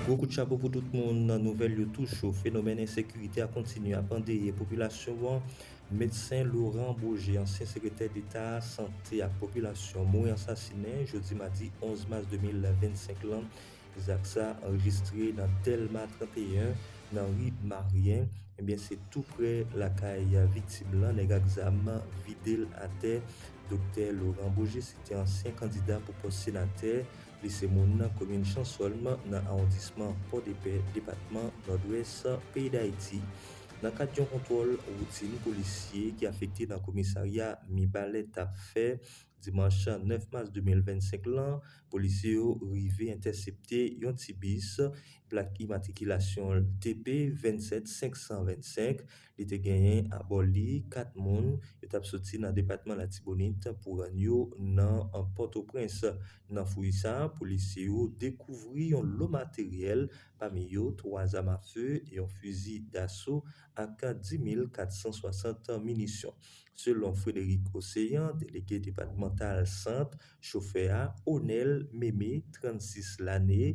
Gwo kout chapo pou tout moun nan nouvèl yo tou cho, fenomèn ensekirite a kontinye ap andeye popilasyon an, medsen Laurent Beaugé ansyen sekretè deta sante ak popilasyon mouri ansasinen jodi madi 11 mas 2025 lan Zak sa anrejistre nan Dèlma 31, nan ri Maryen, ebyen se tou prè lakay viktim lan nèg ak zam vide l atè. Doktè Laurent Beaugé se te ansyen kandida pou pòs senatè, li se moun komin Chansòlm nan awondisman Pòdepè, depatman Nòdwès, peyi Dayiti. Nan kad yon kontwòl woutin polisye ki afekte nan komisarya Mibalè t ap fè, Dimanch 9 mas 2025 lan, polisye yo rive entèsepte yon ti bis, plak imatrikilasyon l TP 27 525, li te genyen abò li 4 moun, yo t ap soti nan depatman Latibonit pou rann yo nan Pòtoprens. Nan fouy sa, polisye yo dekouvri yon lo materyèl, pami yo 3 zam afe, yon fizi daso ak 10 mil 460 minisyon. Selon Frédéric Océan, delege depatmantal Sant, chofè a, Onel Mémé, 36 lane,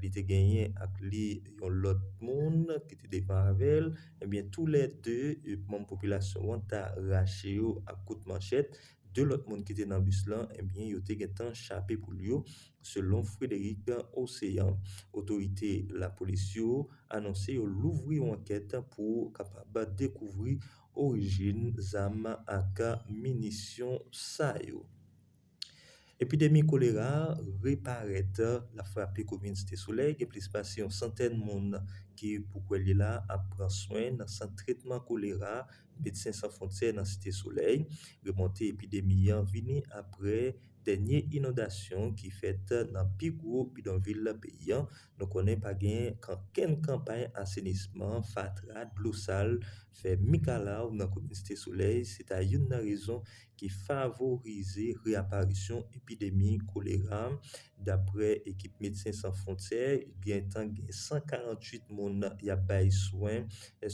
li te genyen ak li yon lòt moun ki te devan avè l, ebyen tou lè 2 manm popilasyon an ta rache yo ak kout manchèt, 2 lòt moun ki te nan bis lan, ebyen yo te gentan chape poul yo, selon Frédéric Océan. Otorite lapolis yo anonse yo louvri yon ankèt pou kapab dekouvri orijin zam ak minisyon sa yo. Epidemi kolera reparèt, l ap frape komin Site Solèy, gen plis pase yon santèn moun ki pou kwè li la ap pran swen nan sant tretman kolera Medsen San Fwontyè nan Site Solèy. Remonte epidemi an vini aprè dènye inondasyon ki fèt nan pi gwo bidonvil peyi an. Nou konnen pa gen ankenn kanpay asenisman, fatra, dlo sal Fè mikalaw nan kout miste solèy se ta youn nan rezon ki favorize reaparisyon epidemi kolera, daprè ekip Medsen San Fwontyè. Gen tan gen 148 moun y ap bay swen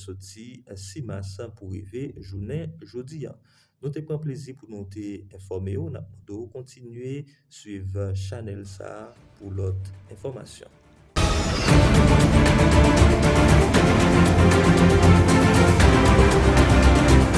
soti 6 mas pou rive jounen jodi a. Nou te pran plezi pou nou te enfòme ou, nap mande ou kontinye swiv chanèl sa pou lòt enfòmasyon.